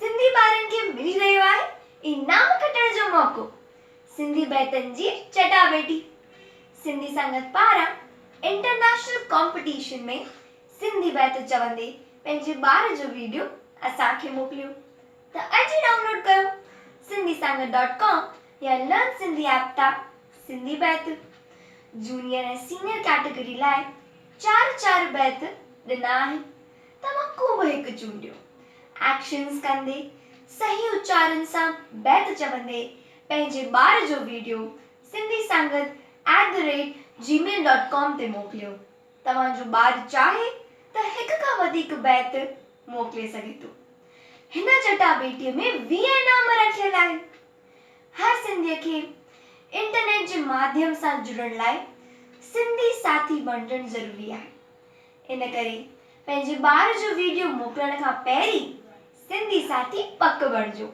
سنڌي ٻارن کي ملي رهيو آهي انعام کٽڻ جو موقعو، سنڌي بيتن جي چٽاڀيٽي، سنڌي سنگت پاران انٽرنيشنل ڪامپٽيشن ۾ سنڌي بيت چوندي پنهنجي ٻار جو ويڊيو اسان کي موڪليو ته اڄ ئي ڊائونلوڊ ڪيو سنڌي سنگت ڊاٽ ڪام يا لرن سنڌي ايپ تان سنڌي بيت جونيئر ۽ سينيئر ڪيٽيگري لاء چار چار بيت ڏنا آهن. توهان ڪو به هڪ چونڊيو. ايڪشنز ڪندي، صحيح اچارن سان بيت چوندي پنهنجي ٻار جو video Sindhi Sangat at the rate gmail dot com تي موڪليو. توهان جو ٻار چاهي ته هڪ کان وڌيڪ بيت موڪلي سگهي ٿو. هن چٽاڀيٽيء ۾ ويهه انعام رکيل آهن. هر سنڌيء کي انٽرنيٽ جي ماڌيم سان جڙڻ لاء سنڌي ساٿي بڻجڻ ضروري آهي. ان ڪري پنهنجي ٻار جو ويڊيو موڪلڻ کان پهرين سنڌي ساٿي پڪ بڻجو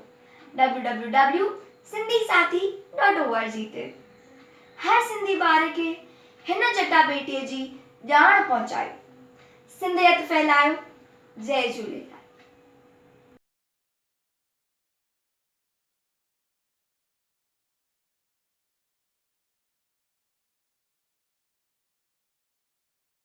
www Sindhi Sathi dot O R G تي هر سنڌي ٻار کي هن چٽاڀيٽي جي ڄاڻ پهچايو سنڌيت ڦهلايو جئي جهوليلال.